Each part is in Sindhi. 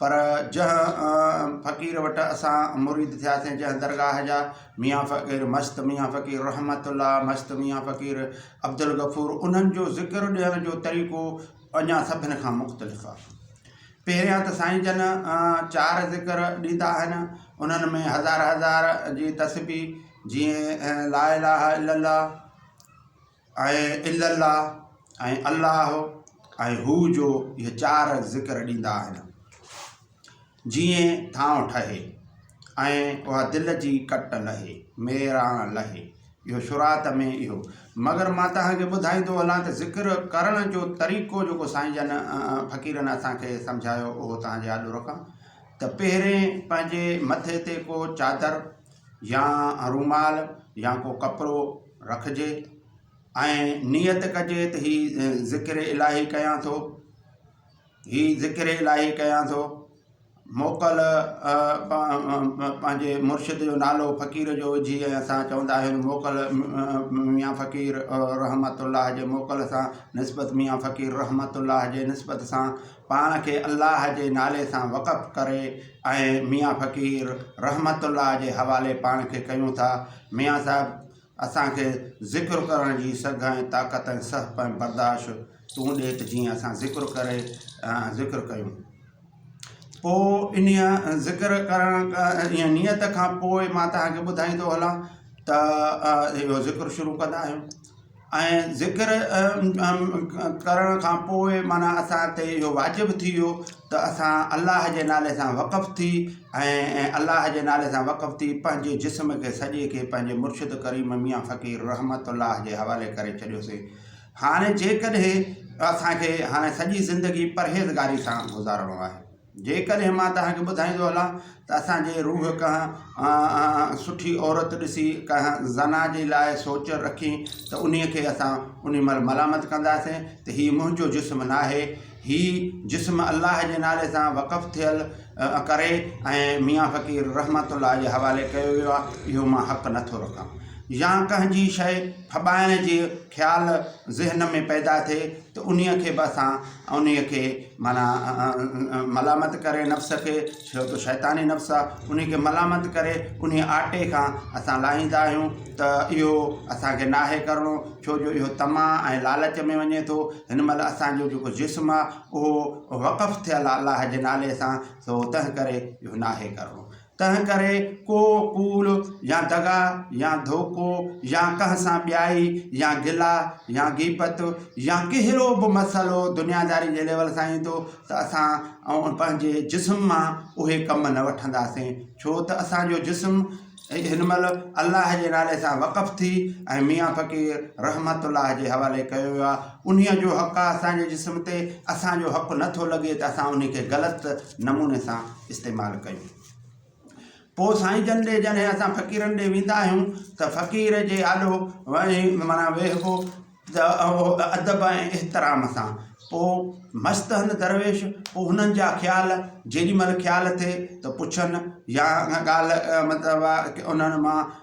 پر جنهن فقير وٽ اسان مريد ٿياسين جنهن درگاهه جا ميان فقير مست ميان فقير رحمت الله مست ميان فقير عبدالغفور انهن جو ذڪر ڏيڻ جو طريقو اڃا سڀن کان مختلف آهي پهريان ته سائين جن چار ذڪر ڏيندا آهن انهن ۾ هزار هزار جي تسبي جيئن لا اله الا الله ۽ الا الله ۽ الله ۽ هو جو اهي چار ذڪر ڏيندا آهن جيئن ٿانء ٺهي ۽ اها دل جي ڪٽ لهي ميراڻ لهي اهو شروعات ۾ اهو مگر مان توهان کي ٻڌائيندو هلان ته ذڪر ڪرڻ جو طريقو جيڪو سائين جن فقيرن اسان کي سمجهايو اهو توهان جي آڏو رکان ته پهرين پنهنجي مٿي تي ڪو چادر يا رومال يا ڪو ڪپڙو رکجي ۽ نيت ڪجي ته هي ذڪر الاهي ڪيان ٿو هي ذڪر الاهي ڪيان ٿو موڪل پنهنجي مرشد جو نالو فقير جو وجهي ۽ اسان چوندا آهيون موڪل ميان فقير رحمت الله جي موڪل سان نسبت ميان فقير رحمت الله جي نسبت سان پاڻ کي الله جي نالي سان وقف ڪري ۽ ميان فقير رحمت الله جي حوالي پاڻ کي ڪيون ٿا. ميان صاحب اسان کي ذڪر ڪرڻ جي سگهه ۽ طاقت ۽ سهپ ۽ برداشت تون ڏي ته جيئن اسان ذڪر ڪري ذڪر ڪيون. پوء انهيء ذڪر ڪرڻ جي نيت کان پوء مان توهان کي ٻڌائيندو هلان ته اهو ذڪر شروع ڪندا آهيون. ۽ ذڪر ڪرڻ کان پوء معنيٰ اسان تي اهو واجب ٿي ويو ته اسان الله جي نالي سان وقف ٿي ۽ الله جي نالي سان وقف ٿي پنهنجي جسم کي سڄي کي پنهنجي مرشد ڪريم ميان فقير رحمت الله جي حوالي ڪري ڇڏيوسين هاڻي جيڪڏهن اسان کي هاڻي سڄي زندگي پرهيزگاري سان گذارڻو آهي جيڪڏهن مان توهان کي ٻڌائيندو هلان ته اسان جي روح ڪنهن سٺي عورت ڏسي ڪنهن زنا جي لاء سوچ رکي ته انهي کي اسان انهي مهل ملامت ڪنداسين ته هي منهنجو جسم ناهي هي جسم الله جي نالي سان وقف ٿيل ڪري ۽ ميان فقير رحمت الله جي حوالي ڪيو ويو آهي اهو مان حق نه ٿو رکان يا ڪنهن جي شيء ڦٻائڻ جي خيال ذهن ۾ پيدا ٿئي ته انهي کي به اسان انهي کي معنيٰ، ملامت ڪري نفس کي، ڇو ته شيطاني نفس آ، انهي کي ملامت ڪري انهي آٽي کان اسان لاهيندا آهيون ته اهو اسان کي ناهي ڪرڻو، ڇو جو اهو طمع ۽ لالچ ۾ وڃي ٿو، هن مهل اسان جو جيڪو جسم آ اهو وقف ٿيل آ الله جي نالي سان، سو تنهنڪري اهو ناهي ڪرڻو. تنهن ڪري ڪو ڪوڙ يا دغا يا ڌوڪو يا ڪنهن سان ٻيائي يا گلا يا غيبت يا ڪهڙو به مسئلو دنياداري جي ليول سان ايندو ته اسان پنهنجي جسم مان اهي ڪم نه وٺنداسين ڇو ته اسانجو جسم هن مهل الله جي نالي سان وقف ٿي ۽ ميان فقير رحمت الله جي حوالي ڪيو ويو آهي انهي جو حق آهي اسانجي جسم تي اسانجو حق نه ٿو لڳي ته اسان انهي کي غلط نموني سان استعمال ڪيون. پوء سائين جن ڏي جڏهن اسان فقيرن ڏي ويندا آهيون ته فقير جي آڏو معنيٰ ويهبو ته اهو ادب ۽ احترام سان. پوء مست هن درويش، پوء هنن جا خيال، جيڏي مهل خيال ٿئي ته پڇن يا ڳالهه مطلب انهن مان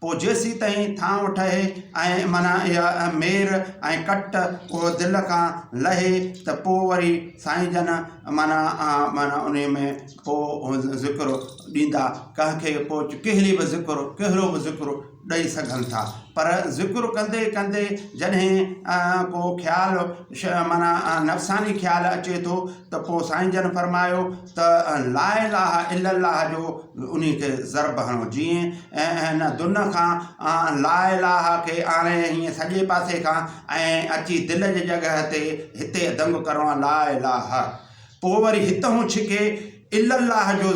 پوء جيسين تائين ٿانء ٺهي ۽ معنيٰ اها مير ۽ ڪٽ اهو دل کان لهي ته پوء وري سائين جن معنيٰ معنيٰ انهيء ۾ پوء ذڪر ڏيندا ڪنهن کي پوء ڪهڙي به ذڪر ڪهڙو به ذڪر ڏئي سگهن ٿا پر ذڪر ڪندي ڪندي جڏهن ڪو خيال معنيٰ نفساني خيال اچي ٿو ته پوء سائين جن فرمايو ته لا اله الا الله جو انهي کي ضرب هڻو جيئن ان دن کان لا اله کي آڻي هيئن سڄي پاسي کان ۽ اچي دل جي جڳهه تي هتي دنگ ڪرڻو آهي لا اله پوء وري هتهون ڇڪي الا الله جو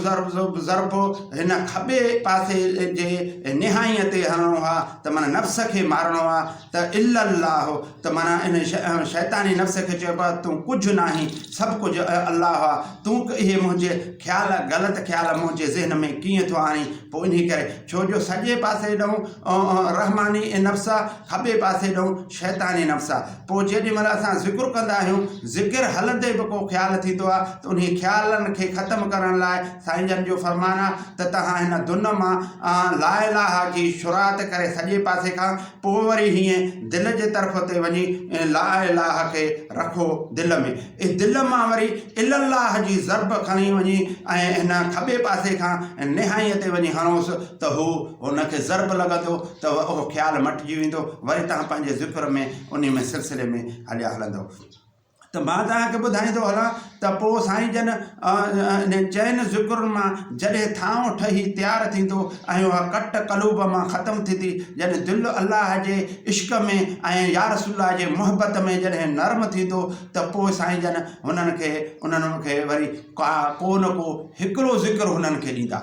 ضرب هن کٻي پاسي جي نهايئن تي هڻڻو آهي ته معنيٰ نفس کي مارڻو آهي ته الا الله ته معنيٰ ان شيطاني نفس کي چئبو آهي تون ڪجهه ناهين سڀ ڪجهه الله آهي تون اهي منهنجي خيال غلط خيال منهنجي ذهن ۾ ڪيئن ٿو آڻين پوء انهي ڪري ڇو جو سڄي پاسي ڏانهن رحماني نفس آهي کٻي پاسي ڏانهن شيطاني نفس آهي پوء جيڏي مهل اسان ذڪر ڪندا آهيون ذڪر هلندي به ڪو خيال ٿيندو آهي ته انهي خيالن کي ختم ڪرڻ لاء سائين جن جو فرمان آهي ته توهان هن دن مان لا اله جي شروعات ڪري سڄي پاسي کان پوء وري هيئن دل جي طرف تي وڃي ۽ لا اله کي رکو دل ۾، اي دل مان وري الا الله جي ضرب کڻي وڃي ۽ هن کٻي پاسي کان نهائيء تي وڃي هڻوس ته هو هن کي ضرب لڳندو ته اهو خيال مٽجي ويندو وري تهان پنهنجي ذڪر ۾ انهي ۾ سلسلي ۾ هليا هلندؤ. ته مان توهان کي ٻڌائيندو هلان ته پوء سائين جن انهن چئن ذڪرن مان جڏهن ٿانو ٺهي تيار ٿيندو ۽ اها ڪٽ قلوب مان ختم ٿيندي يعني دل الله جي عشق ۾ ۽ يارسول الله جي محبت ۾ جڏهن نرم ٿيندو ته پوء سائين جن هنن کي انهن کي وري ڪا ڪو نه ڪو هڪڙو ذڪر هنن کي ڏيندا.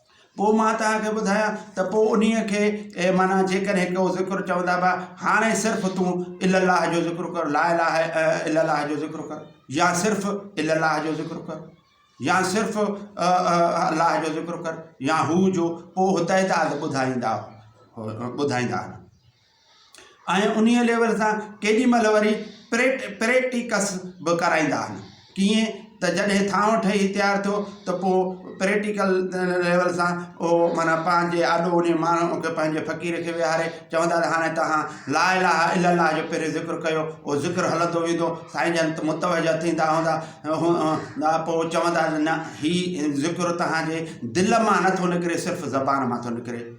پوء مان توهان کي ٻڌايان ته پوء انهيء کي اي معنيٰ جيڪڏهن ڪو ذڪر چوندا به هاڻي صرف تون الا الله جو ذڪر ڪر لا اله الا الله جو ذڪر ڪر يا صرف الا الله جو ذڪر ڪر يا صرف الله جو ذڪر ڪر يا هو جو پوء هدايت آد ٻڌائيندا ٻڌائيندا آهن ۽ انهيء ليول سان ڪيڏي مهل وري پريٽيڪس به ڪرائيندا آهن. ڪيئن ته جڏهن ٿانو ٺهي تيار ٿيو ته پوء پريٽيڪل ليول سان اهو معنيٰ پنهنجي آڏو انهيء ماڻهوء کي پنهنجي فقير کي ويهاري چوندا ته هاڻي توهان لا اله الا الله جو پهريون ذڪر ڪيو. اهو ذڪر هلندو ويندو. سائين جن متوجهه ٿيندا هوندا هوندا پوء چوندا ته نه هي ذڪر توهان جي دل مان نه ٿو نڪري صرف زبان مان ٿو نڪري.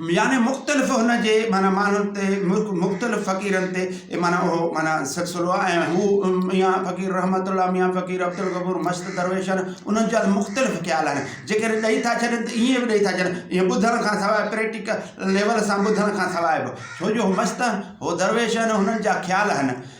يعني مختلف هن جي معنيٰ ماڻهن تي مختلف فقيرن تي معنيٰ اهو معنيٰ سلسلو آهي ۽ هو ميان فقير رحمت الله ميان فقير عبدالغفور مشت درويش آهن انهن جا مختلف خيال آهن جيڪڏهن ڏئي ٿا ڇڏن ته ائين به ڏئي ٿا ڇڏن ائين ٻڌڻ کان سواء پريٽيڪل ليول سان ٻڌڻ کان سواء به ڇو جو هو مشت آهن هو درويش آهن هنن جا خيال آهن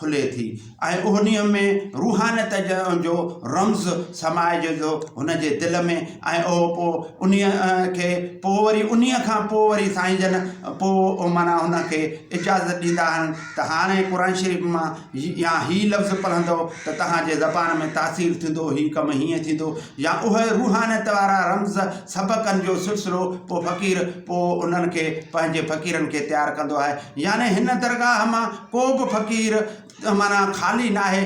کلي ٿي ۽ انهيء ۾ روحانيت جو رمز سمائجي ٿو هن جي دل ۾ ۽ اهو پوء انهيء کي پوء وري انهيء کان پوء وري سائين جن پوء معنيٰ هن کي اجازت ڏيندا آهن ته هاڻي قرآن شريف مان يا هي لفظ پڙهندؤ ته توهان جي زبان ۾ تاثير ٿيندو هي ڪم هيئن ٿيندو يا اهي روحانيت وارا رمز سبقن جو سلسلو پوء فقير پوء انهن کي پنهنجي فقيرن کي تيار ڪندو آهي يعني هن درگاهه مان ڪو به فقير معنيٰ خالي ناهي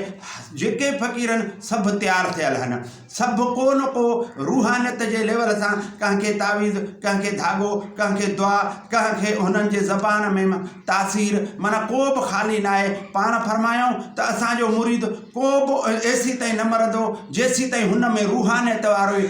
جيڪي فقيرن سڀ تيار ٿيل آهن سڀ ڪو نه ڪو روحانيت جي ليول سان ڪنهن کي تعويذ ڪنهن کي ڌاڳو ڪنهن کي دعا ڪنهن کي هنن جي زبان ۾ تاثير معنيٰ ڪو به خالي ناهي پاڻ فرمايائون ته اسان جو مريد ڪو به ايسي تائين نه مرندو جيسي تائين هن ۾ روحانيت وارو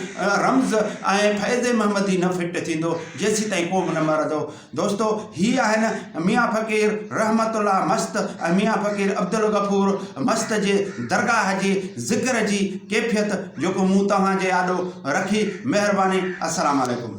رمز ۽ فيض محمدي نه فٽ ٿيندو جيسي تائين ڪو به نه مرندو دوستو هي آهن ميان فقير رحمت الله مست ۽ ميان فقير عبدالغفور مست جي درگاهه جي ذڪر جي ڪيفيت جيڪو مون توهان جي آڏو رکي مهرباني السلام عليڪم.